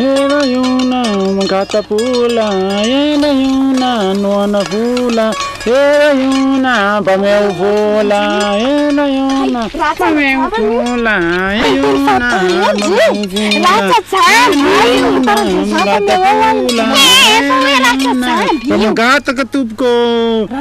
Ela iona mangata-bola Ela iona noana vola Ela iona mba meo vola Ela iona mba meo vola Iona mangata-bola Iona mangata-bola Efa hoe ratra jamby io Mangataka tompoko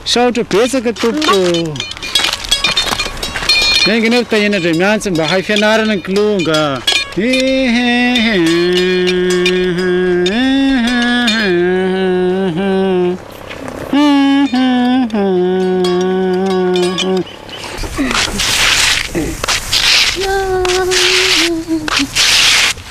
Misaotra betsaka tompoko. Enga anie ry Tahina Andriamiantsy mba hay fianarana ny kilonga.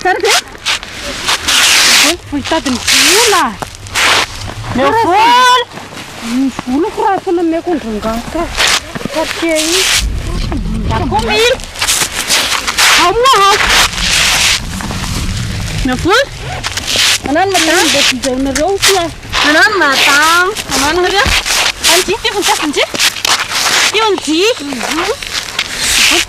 Tsara ve? Volo vao hitady ny vola. Meo volo. Ny voloko raha tsy nomeko an-drangahy ka. Quartier iny. Akomy. Ao moa ao. Meo volo. Anano madame. Mba fizaonareo koa. Anano madame. Anano nareo. Anjy, io voninkazo njy. Io njy.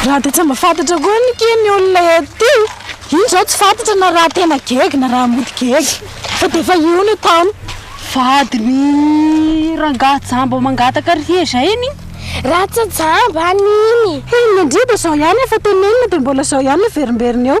Raha dia tsy mba fantatra koa ny ke ny olona ety iny izao tsy fantatra na raha tena gegy na raha mody gegy fa dia efa io ny ataony vadiny rangahy jamba mangataka ry hezay iny raha tsy jamba an'iny iny indrindra izao ihany efa tenenina dia mbola izao ihany averimberina eo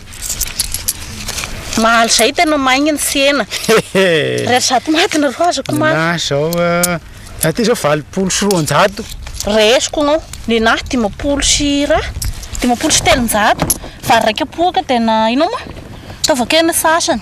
Mahaly zay tena maigny ny tsena. Ray zato maty ny roa azoko maty. Ninahy zao aty zao valopolo sy roanjato. Ray azoko nao ninahy dimampolo sy ra dimampolo sy telonjato. Vary raika poaka tena inao moa ataovako eny ny sasany.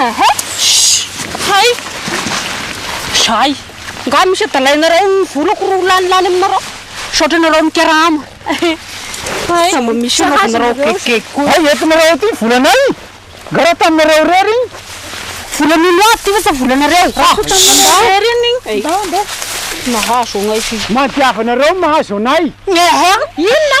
Ehe! Shh! Hay! Zay! Nga misy adalainareo ny volako ro lanilany aminareo? Misaotra anareo mikarama. Hay! Sa mba misy anaovanareo gege koa? Hay entinareo aty ny volanay! Nga raha taminareo irery iny? Volan'olo hafa ity fa sa volanareo? Raha koa taminareo irery iny? Ndao ndao! Nahazo anay f'io. Mandiava anareo ny mahazo anay! Ehe! Inona?